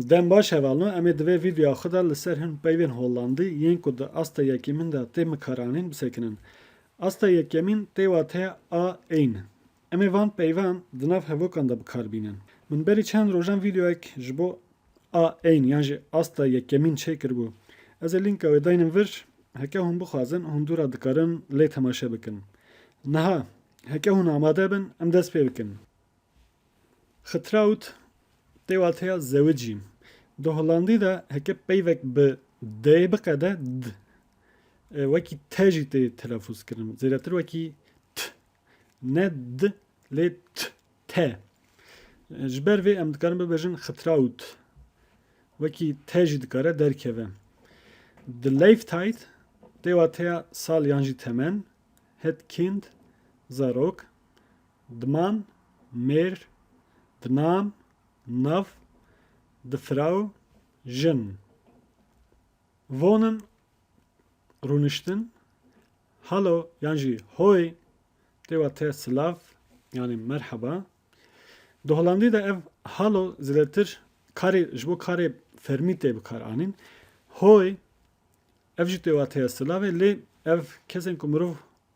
Dem baş hevalno em ê di vê vîdeoya xwe de li ser hin peyvên Hollandî yên ku di asta yekemîn de tê mikaranîn bisekinin. Asta yekemîn tê wateya a ên. Em ê van peyvan di nav hevokan de bikar bînin. Min berî çend rojan vîdeoyek ji bo a ên yan jî asta yekemîn çê kiribû. Ez ê lînka wê daynim vir, heke hûn bixwazin hûn dû re dikarin lê temaşe bikin. Niha, heke hûn amade bin em dest pê bikin. Xetraut tê wateya zewicî. Di holandî de heke peyvek bi d'yê biqede d wekî te jî tê telefûz kirin. Zêdetir wekî t ne d lê t te. Ji ber vê em dikarin bibêjin xetraut. Wekî te jî dikare derkeve. Di Leyftayt tê wateya sal yan jî temen, het kind, zarok. Diman, mêr, dinan, nav, difiraw, jin. Vonin, rûniştin, halo yan jî hoy tê wa te silav yanî merheba. Di Holandî de ev halo zêdetir karê ji bo karê fermî tê bikar anîn. Hoy ev jî tê wa te silavê lê ev kesên ku mirov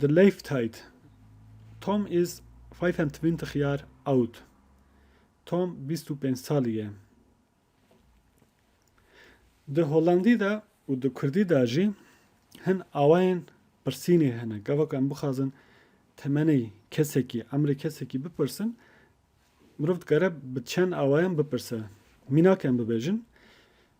The Lave Tide Tom is five and twenty year old. Tom bîst û pênc salî ye. Di Holandî de û di Kurdî de jî hin awayên pirsînê hene. Gava ku em bixwazin temenê kesekî, emrê kesekî bipirsin, mirov dikare bi çend awayan bipirse. Mînak em bibêjin,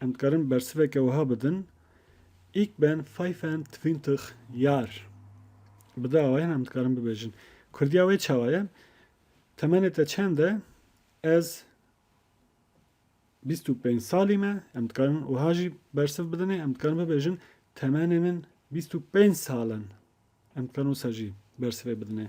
Em dikarin bersiveke wiha bidin, Ik ben fayfend twintig jar. Bi dawayan em dikarin bibêjin. Kurdiya wê çawa ye? Temenê te çend e? Ez bîst û pênc salî me. Em dikarin wiha jî bersiv bidinê. Em dikarin bibêjin temenê min bîst û pênc sal in. Em dikarin wisa jî bersivê bidinê.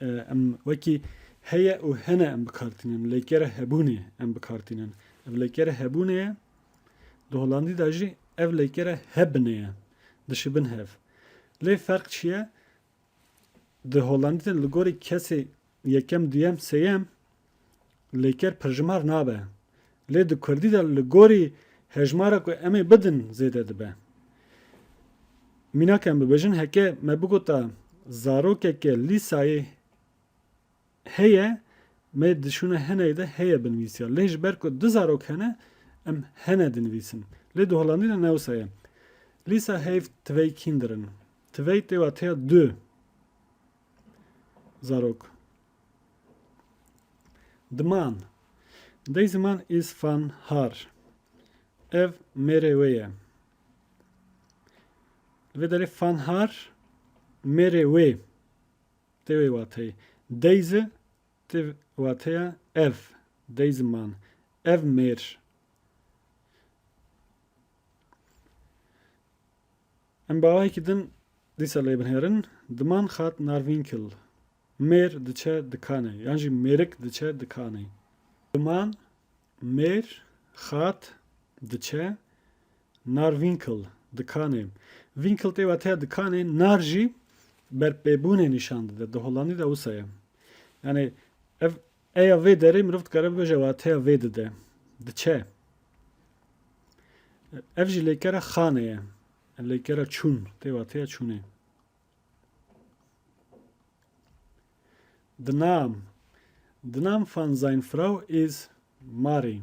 Em wekî heye û hene em bikartînin, lêkere hebûnê em bikartînin. Ev lêkere hebûnê ye, di holandî de jî ev lêkere hebnê ye, dişibin hev. Lê ferq çi ye? Di holandî de li gorî kesê yekem, duyem, sêyem lêker pirjimar nabe, lê di kurdî de li gorî hejmara ku em ê bidin zêde dibe. Mînak em bibêjin heke me bigota zarokeke lîsayê heye me dişûne hineyê de heye binivîsiya lê ji ber ku du zarok hene em hene dinivîsin. Lê di Holandî de ne wisa ye. Lîsa heyv tivey kîndirin. Tivey tê wateya du. Zarok Diman Dey ziman is fan har Ev mêrê wê ye Li vê derê fan har mêrê wê tê wê wateyê Dey zi tê wateya ev Dey ziman Ev mêr Em bawayekî din dîsa lê binêrin, Diman xat Narvînkil, mêr diçe dikanê yan jî mêrik diçe dikanê. Diman, mêr, xat, diçe, Narvînkil, dikanê. Vînkil tê wateya dikanê, nar jî berpêbûnê nîşan dide. Di Hollandî de wisa ye. Yanê ev Eya vê derê mirov dikare bibe ji wateya vê di de, diçe. Ev jî lêkera xanê ye. Ev lêkera çûn tê wateya çûnê. Dinam. Dinam van zijn Frau is Mari.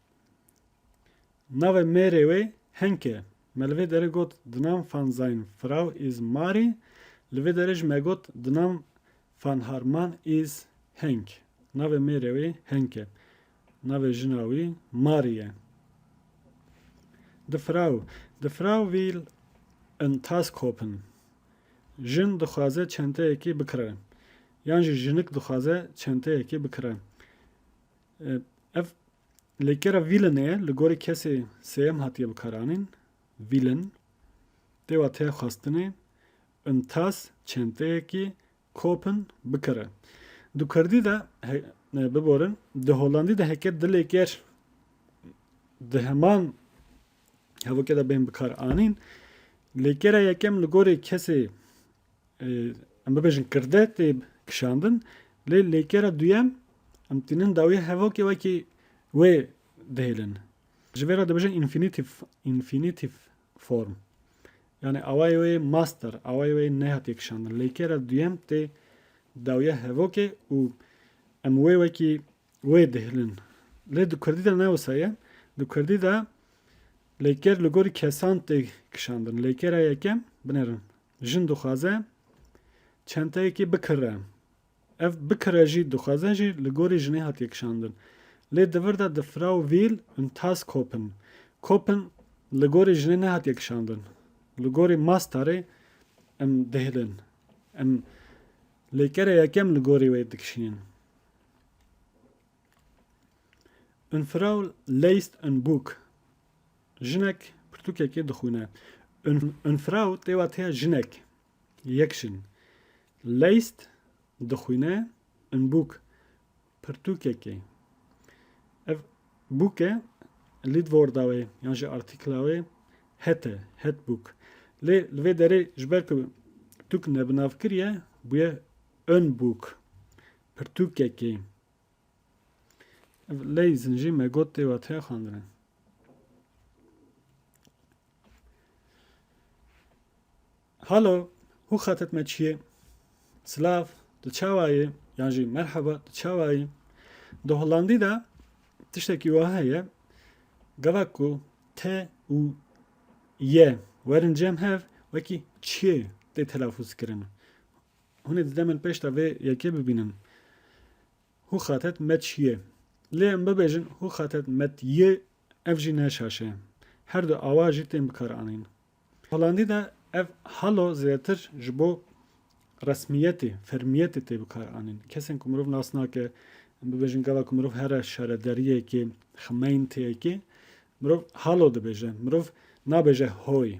Navê mêrê wê Henk e. Me li vê derê got di nam van sein Frau is Marie, li vê derê jî me got di nam van haar Mann is Henk. Navê mêrê wê Henk e. Navê jina wî Marie ye. Die Frau, die Frau will in Task hoppen. Jin dixwaze çenteyekî bikire. Yan jî jinik dixwaze çenteyekî bikire. Ev lêkera vîlinê ye li gorî kesê sêyem hatiye bikaranîn, vîlin, tê wa tê xwestinê in tas çenteyekî kopin bikire. Di kurdî de biborin, di holandî de heke di lêker di heman hevokê de bên bikar anîn, lêkera yekem li gorî kesê Em bibêjin kirde tê kişandin lê lêkera duyem em tînin dawiyê hevokê wekî wê dihêlin. Ji vê re dibêjin infinitif, infinitif form. Yani awayê wê master, awayê wê nehatiye kişandin. Lêkera duyem tê dawiya hevokê û em wê wekî wê dihêlin. Lê di Kurdî de ne wisa ye. Di Kurdî de lêker li gorî kesan tê kişandin. Lêkera yekem binêrin. Jin dixwaze çenteyekê bikire. Ev bikire jî dixwaze jî li gorî jinê hatiye kişandin. Lê di vir de di Frau Will und Tas Koppen, Koppen li gorî jinê nehatiye kişandin. Li gorî mastarê em dihêlin. Em lêkere yekem li gorî wê dikişînin. Und Frau leist ein Buch. Jinek pirtûkekê dixwîne. Une Frau tê wateya jinek, yek jin. Leist dixwîne ein Bûk, pirtûkekê. Ev Bûke Lidworda wê yan jî artîkla wê het e, het Bûk. Lê li vê derê ji ber ku pirtûk nebinavkiriye bûye ein Bûk, pirtûkekê. Ev ley zincî me got tê watiya xandinin. Halo, hû xetet me çiyê? Silav, tu çawa yê? Yan jî merheba, tu çawa yê? Di Holandî de tiştekî wiha heye gevek ku te û ye werin cem hev wekî çiyê tê telafûz kirin. Hûn ê di demên pêş de vê yekê bibînin. Hû xatet met şiyê. Lê em bibêjin hû xatet met yê ev jî ne şaşe. Her du awa jî tên bikaranîn. Holandî de ev halo zêdetir ji bo resmiyetê, fermiyetê tê bikaranîn. Kesên ku mirov nas nake, em bibêjin gava ku mirov here şarederiyekê, xemeynitiyekê, mirov halo dibêje. Mirov nabêje hoy.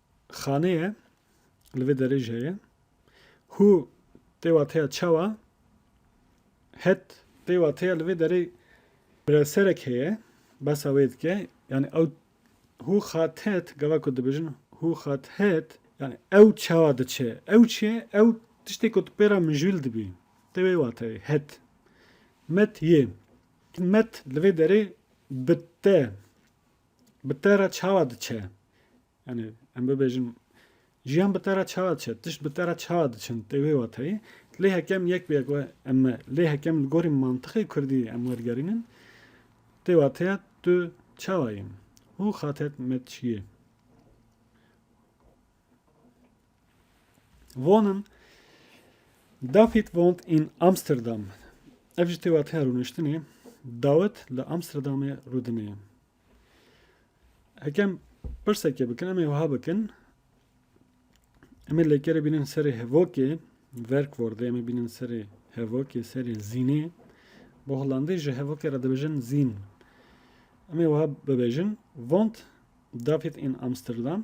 Xane ye, li vê derê jî heye. Hû tê wateya çawa? Het tê wateya li vê derê birevserek heye, behsa wê dike. Yanî ew hû xat het, gava ku dibêjin hû xat het, yanî ew çawa diçe? Ew çi ye? Ew tiştê ku tu pê re mijûl dibî. Tê wê wateyê het. Met yê. Met li vê derê bi te Bi te re çawa diçe? Yanî em bibêjin jiyan bi te re çawa diçe? Tişt bi te re çawa diçin? Tê wê wateyê lê hekem yek bi yek we em me lê hekem li gorî mantixê kurdî em wergerînin tê wateya tu çawa yî? Hû xatet me çi yê? Von in Dawid woont in Amsterdam. Ev ji têwateya rûniştinê Dawid li Amsterdamê rûdine. Hekem pirseke bikin em ê wiha bikin. Em ê lêkerê bînin serê hevokê verkwordê em ê bînin serê hevokê serê zînê bo holandî ji hevokê re dibêjin zîn. Em ê wiha bibêjin vont David in Amsterdam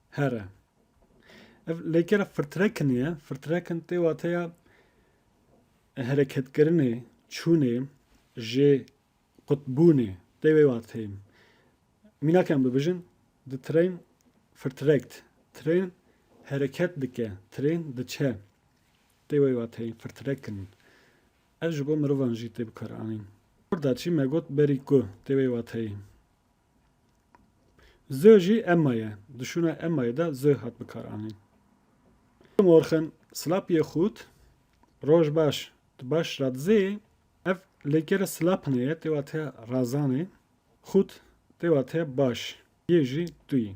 Here. Ev lêkera firtrekinê ye. Firtrekin tê wateya hereketkirinê, çûnê, jê qutbûnê. Tê wê wateyê. Mînakê em bibijin, the train firtrekt. Train hereket dike, train diçe. Tê wê wateyê firtrekin. Ev ji bo mirovan jî tê bikaranîn. Orda çî me got berî ku tê wê wateyê. Zö jî emma ye. Di şûna emmayê de zö hat bikaranîn. Guten Morgen, Slap ye xût, roj baş, tu baş rad zê? Ev lêkere slapne ye tê wateya razanê, xût tê wateya baş yê jî tu yî.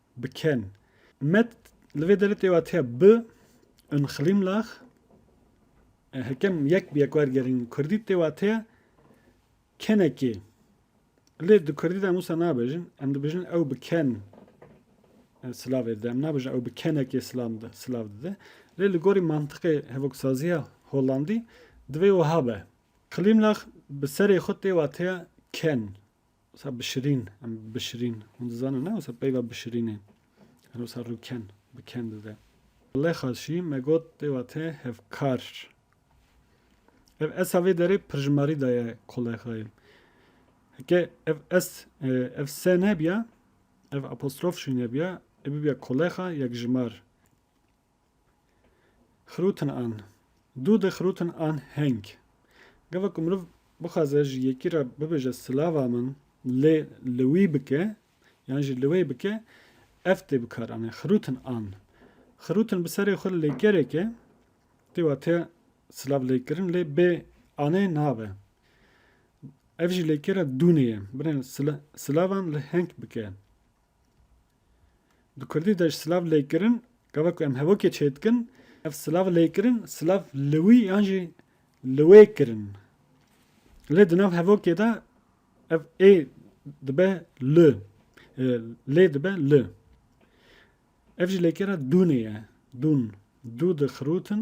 Bi ken. Met li vê derê tê watiya bi ün xlîm lax. Hekem yek bi yek wergerîn kurdî tê watiya kenekê. Lê di kurdî de em wisa nabêjin. Em dibêjin ew bi ken silavê dide. Em nabêjin ew bi kenekê silav dide. Lê li gorî mantiqê hevoksaziya holandî divê wiha be. Xlîm lax bi serê xwe tê watiya ken. Wisa bi şirîn, em bi şirîn. Hûn dizanin ne wisa peyva bi şirînê. Her wisa rûken, bi ken dide. Lexaşî me got tê wate hevkar. Ev esa vê derê pirjimarî daye kolexayê. Heke ev es, e, ev se nebiya, ev apostrof jî nebiya, ê bibiya kolexa yekjimar. Xirûtin an. Dû di xirûtin an heng. Gava ku mirov bixwaze ji yekî re bibêje silava min lê li wî bike yan jî li wê bike ev tê bikaranîn. Xirûtin an. Xirûtin bi serê xwe lê gerek e tê wate silav lê kirin lê bê anê nabe. Ev jî lê kêra dûnê ye. Binê silavan li heng bike. Bi kurdî de ji silav lêkirin, gava ku em hevokê çêdikin, ev silav lêkirin, silav li wî yan jî li wê kirin. Lê di nav hevokê de ev ê dibe li, lê dibe li. Ev ji lêkêra dûnê ye, dûn, dû dixirûtin,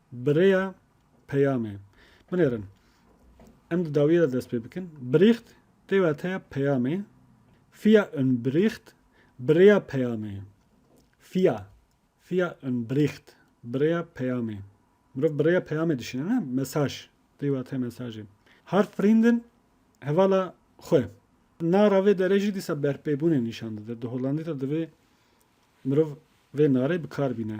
Bi rêya peyamê binêrin. Em di dawiyê de dest pê bikin. Bericht tê wateya peyamê, via un Bericht, bi rêya peyamê. Via, via un Bericht, bi rêya peyamê. Mirov bi rêya peyamê dişîne ne? Mesaj tê wateya mesajê. Har vrienden, hevala xwe. Nara vê derê jî dîsa berpêbûnê nîşan dide. Di Hollandî de divê mirov vê narê bi kar bîne.